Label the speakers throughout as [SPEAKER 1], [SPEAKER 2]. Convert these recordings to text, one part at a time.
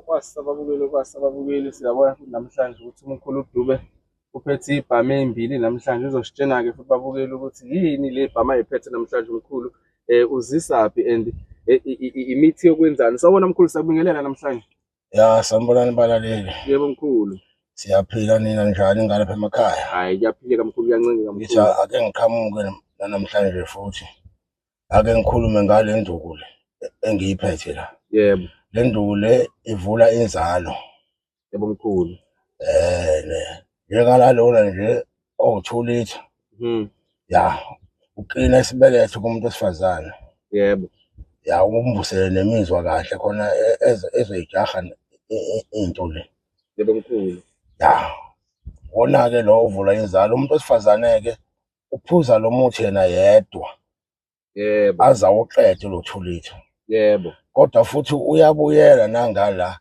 [SPEAKER 1] Kwasi ababukeli kwasi ababukeli siyabona futhi namhlanje ukuthi umkhulu uDube uphethe ibhamu ezimbili namhlanje uzositshena-ke futhi babukele ukuthi yini le bhamu ayiphethe namhlanje umkhulu um uzisaphi and eh, imithi yokwenzani sawubona mkhulu sakubingelela namhlanje ya sanibonani
[SPEAKER 2] balaleli yebo mkhulu
[SPEAKER 1] siyaphila nina
[SPEAKER 2] njani ngalapha emakhaya hhayi kuyaphileka mkhulu
[SPEAKER 1] kuyancengeka mkhulu ake ngiqhamuke
[SPEAKER 2] nanamhlanje futhi ake ngikhulume ngale nduku le engiyiphethe la yebo le nduku
[SPEAKER 1] le
[SPEAKER 2] ivula inzalo yebo
[SPEAKER 1] mkhulu eh ne
[SPEAKER 2] njengalalona nje owuthulitha mhm ya uqina isibeletho kumuntu osifazana yebo
[SPEAKER 1] ya
[SPEAKER 2] ukumbusele nemizwa kahle khona e-, e-, ezoyijaha into le yebo mkhulu
[SPEAKER 1] ya
[SPEAKER 2] wona-ke lo uvula inzalo umuntu wesifazane-ke uphuza lo muthi yena yedwa yebo
[SPEAKER 1] aze awuqede
[SPEAKER 2] lo two liter yebo kodwa
[SPEAKER 1] futhi
[SPEAKER 2] uyabuyela nangala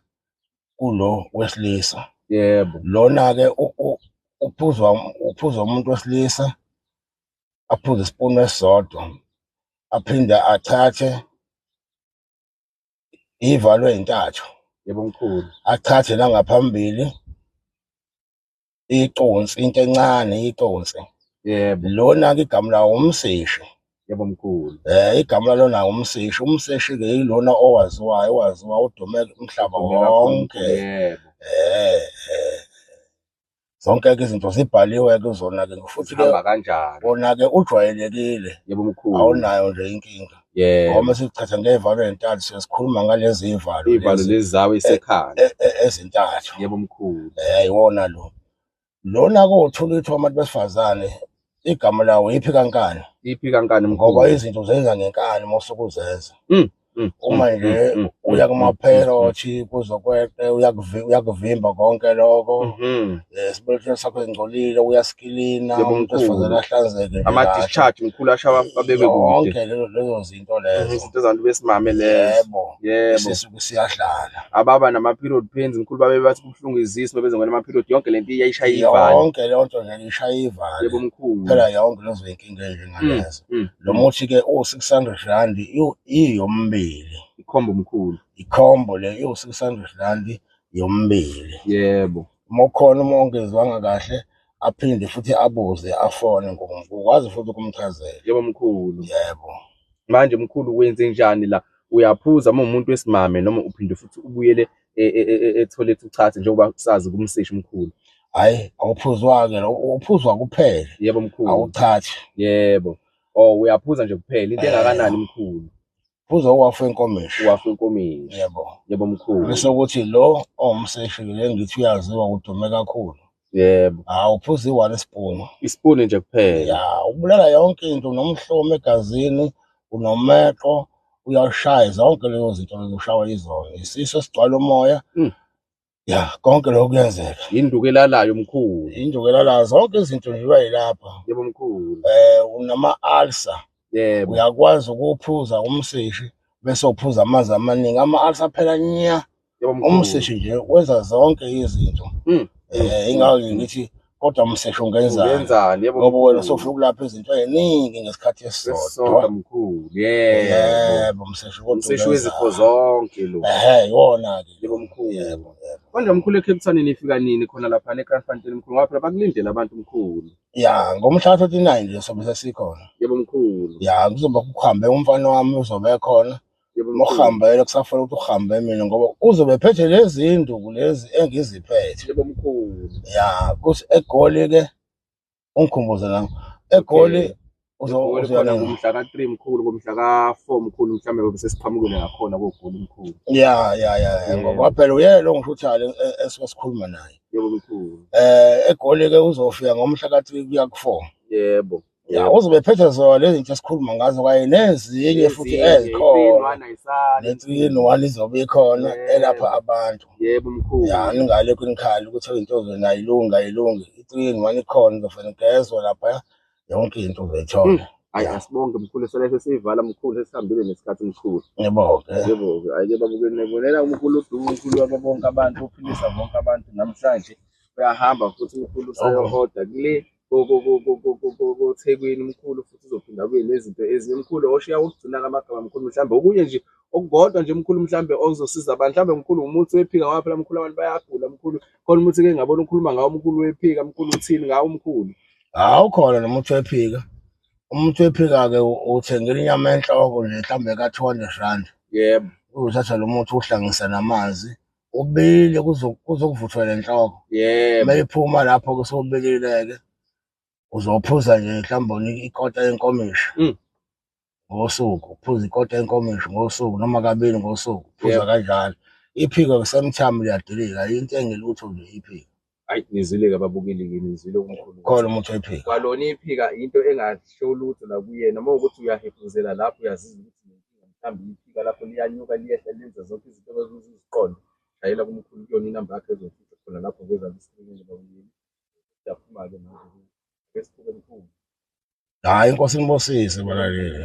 [SPEAKER 2] kulo wesilisa yebo
[SPEAKER 1] lona-ke u-
[SPEAKER 2] u- uphuzwa uphuzwa umuntu wesilisa aphuze isipuni esisodwa aphinde athathe iy'valo ey'ntathu yebo mkhulu
[SPEAKER 1] athathe
[SPEAKER 2] nangaphambili iconsi into encane iconsi yebo lona
[SPEAKER 1] ke igama lawo
[SPEAKER 2] umseshi yebo mkhulu
[SPEAKER 1] eh igama lalona
[SPEAKER 2] umseshi umseshi ke yilona owaziwayo owaziwa udume umhlaba wonke yebo
[SPEAKER 1] eh, eh.
[SPEAKER 2] zonke ke izinto zibhaliwe ke zona ke futhi ke kanjani kona
[SPEAKER 1] ke
[SPEAKER 2] ujwayelekile yebo mkhulu
[SPEAKER 1] awunayo nje inkinga
[SPEAKER 2] yebo ngoba sikuchatha
[SPEAKER 1] ngevalo
[SPEAKER 2] entathu siyasikhuluma ngalezi ivalo ivalo lezi zawo
[SPEAKER 1] isekhaya e, e, ezintathu
[SPEAKER 2] yebo mkhulu
[SPEAKER 1] eh iwona lo
[SPEAKER 2] lona kothola ukuthi abantu besifazane igama lawo iphi kankani iphi kankani mkhulu
[SPEAKER 1] ngoba izinto zenza
[SPEAKER 2] ngenkani mosukuzenza mm. Mm, uma mm, nje mm, uya kumaphela othi kuzokweqe uyakuvimba konke lokho mm-hmm. esibeletweni sakho engcolile uyasikilina Yebo, umuntu mkhulu. esifazane ahlanzeke nje ama kahle. discharge mkhulu
[SPEAKER 1] ashaba abekwe kude yonke lezo- lezo
[SPEAKER 2] zinto Mhm, lezo izinto zabantu besimame lezo
[SPEAKER 1] yebo yebo
[SPEAKER 2] sisuke
[SPEAKER 1] siyadlala
[SPEAKER 2] ababa nama period
[SPEAKER 1] pains mkhulu babe bathi kubuhlungu izisu bebeze ngena ama period yonke lento iyayishaya ivani yonke leyo nto nje
[SPEAKER 2] ishaya ivale yebo mkhulu phela
[SPEAKER 1] yonke lezo
[SPEAKER 2] yinkinga enje Mm, ngalezo mm, lo mm. muthi ke u-600 rand iwu- iyombili ikhombo mkhulu
[SPEAKER 1] ikhombo le
[SPEAKER 2] iwu-600 rand yombili yebo
[SPEAKER 1] uma ukhona uma
[SPEAKER 2] ongezwanga kahle aphinde futhi abuze afone ngokwazi futhi ukumchazela yebo mkhulu
[SPEAKER 1] yebo
[SPEAKER 2] manje mkhulu
[SPEAKER 1] wenze njani la uyaphuza uma umuntu wesimame noma uphinde futhi ubuyele e, e, e, etholet uchathe njengoba sazi kumseshi mkhulu hayi
[SPEAKER 2] awuphuzwa-ke uphuzwa kuphela yebo mkhulu awuchathi yebo
[SPEAKER 1] or oh, uyaphuza nje kuphela into engakanani mkhulu Uze wafa
[SPEAKER 2] enkomishi. Wafa enkomishi.
[SPEAKER 1] Yebo. Yebo mkhulu.
[SPEAKER 2] Bese
[SPEAKER 1] ukuthi lo
[SPEAKER 2] ongumseshile ngithi uyaziwa udume kakhulu. Yebo. Hawu
[SPEAKER 1] uphuza iwani
[SPEAKER 2] isipunu. Isipunu nje kuphela.
[SPEAKER 1] Ya, ubulala
[SPEAKER 2] yonke into nomhlomo egazini, unomeqo, uyashaya zonke lezo zinto lezoshawa izona. Isiso sigcwala umoya. Mm. ya konke lokho kuyenzeka induku elalayo
[SPEAKER 1] mkhulu induku elalayo zonke
[SPEAKER 2] izinto nje iba yilapha yebo mkhulu
[SPEAKER 1] eh unama
[SPEAKER 2] alsa yebo
[SPEAKER 1] uyakwazi ukuphuza
[SPEAKER 2] umsishi bese uphuza amanzi amaningi ama alsa phela nya umsishi
[SPEAKER 1] nje wenza
[SPEAKER 2] zonke izinto hmm. eh ingawo ngithi kodwa msesho ungenzani ungenzani yebo ngoba wena
[SPEAKER 1] sofuna ukulapha
[SPEAKER 2] izinto eziningi ngesikhathi esisodwa esisodwa mkhulu
[SPEAKER 1] yebo yebo msesho kodwa umseshi ungenzani. wezifo zonke lo ehe iwona ke
[SPEAKER 2] yebo mkhulu yebo
[SPEAKER 1] yebo manje
[SPEAKER 2] mkhulu eCape
[SPEAKER 1] Town nifika nini khona lapha neKranfantel mkhulu ngoba phela bakulindele abantu mkhulu ya ngomhla 39
[SPEAKER 2] nje sobe sesikhona yebo mkhulu
[SPEAKER 1] ya kuzoba kuhambe
[SPEAKER 2] umfana wami uzobe ekhona Yebo mkhulu. Mokuhambela
[SPEAKER 1] kusafuna
[SPEAKER 2] ukuthi uhambe mina ngoba uzobe phethe lezi nduku lezi engiziphethe. Yebo mkhulu.
[SPEAKER 1] Ya, kuthi
[SPEAKER 2] eGoli ke ungikhumbuze nami. EGoli Eh, uzo Egoli uzoya
[SPEAKER 1] khona nini? ngomhla ka-3 mkhulu ngomhla ka-4 mkhulu mhlawumbe ngobe sesiqhamukile ngakhona kogoli mkhulu Ya, ya, ya, ya,
[SPEAKER 2] ngoba Yebo. phela uyena lo ngishuthayo le- e- esuke sikhuluma naye. yebo mkhulu
[SPEAKER 1] Eh eGoli ke
[SPEAKER 2] uzofika ngomhla ka-3 kuya ku-4. yebo ya
[SPEAKER 1] Yebo. uzobe ephethe
[SPEAKER 2] zona lezi zinto esikhuluma ngazo kanye nezinye futhi Ezinye i-three in ezikhona one ayisali. ne-three in one izobe ikhona elapha Yebo. abantu Yebo ya mkhulu.
[SPEAKER 1] ningalokhu
[SPEAKER 2] nikhali ukuthi into zona ayilungi ayilungi i-three in one ikhona izofana igezwa lapha yonke into Mm. uzoyithola Ayi ya asibonge
[SPEAKER 1] mkhulu sona sesiyivala mkhulu sesihambile nesikhathi mkhulu. ngibonge Yebo
[SPEAKER 2] ke ayike
[SPEAKER 1] babuke nebonela uMkhulu udumo uMkhulu waba bonke abantu uphilisa bonke abantu namhlanje uyahamba futhi uMkhulu usayo oku order kule koThekwini umkhulu futhi uzophinda abuye nezinto ezinye umkhulu oshiya ukugcina kamagama mkhulu mhlawumbe okunye nje okukodwa nje mkhulu mhlawumbe ozosiza abantu mhlawumbe mkhulu umuthi wephika ngoba phela mkhulu abantu bayagula mkhulu khona umuthi ke ngabona ukhuluma ngawo umkhulu wephika mkhulu uthini ngawo umkhulu hawu khona
[SPEAKER 2] nomuthi wephika umuthi wephika-ke uthengela inyama enhloko nje mhlawumbe ka-two hundred rand yebo
[SPEAKER 1] uzothatha lo muthi
[SPEAKER 2] uwuhlangise namanzi ubilile kuzo- kuzokuvuthwa le nhloko yebo uma iphuma
[SPEAKER 1] lapho
[SPEAKER 2] kusobilileke uzophuza nje mhlawumbe unika ikota yenkomishi Mm. ngosuku uphuza ikota yenkomishi ngosuku noma kabili ngosuku uphuza Yebo. kanjalo iphiko kusemthamo liyadilika into engelutho nje iphiko Hayi nizile ke
[SPEAKER 1] babukeli ke nizile umkhulu. Khona umuntu oyiphika.
[SPEAKER 2] Kwalona iphika
[SPEAKER 1] into engasho lutho la kuyena uma ukuthi uyahefuzela lapho uyaziza ukuthi nenkinga mhlambi iphika lapho liyanyuka liyehla lenza zonke izinto eziziqondo. Shayela kumkhulu kuyona inamba yakhe ezofika khona lapho ngeza isikrini babukeli. Siyaphuma ke manje.
[SPEAKER 2] Ngesikhulu
[SPEAKER 1] mkhulu. Hayi
[SPEAKER 2] inkosi inibosise balaleli.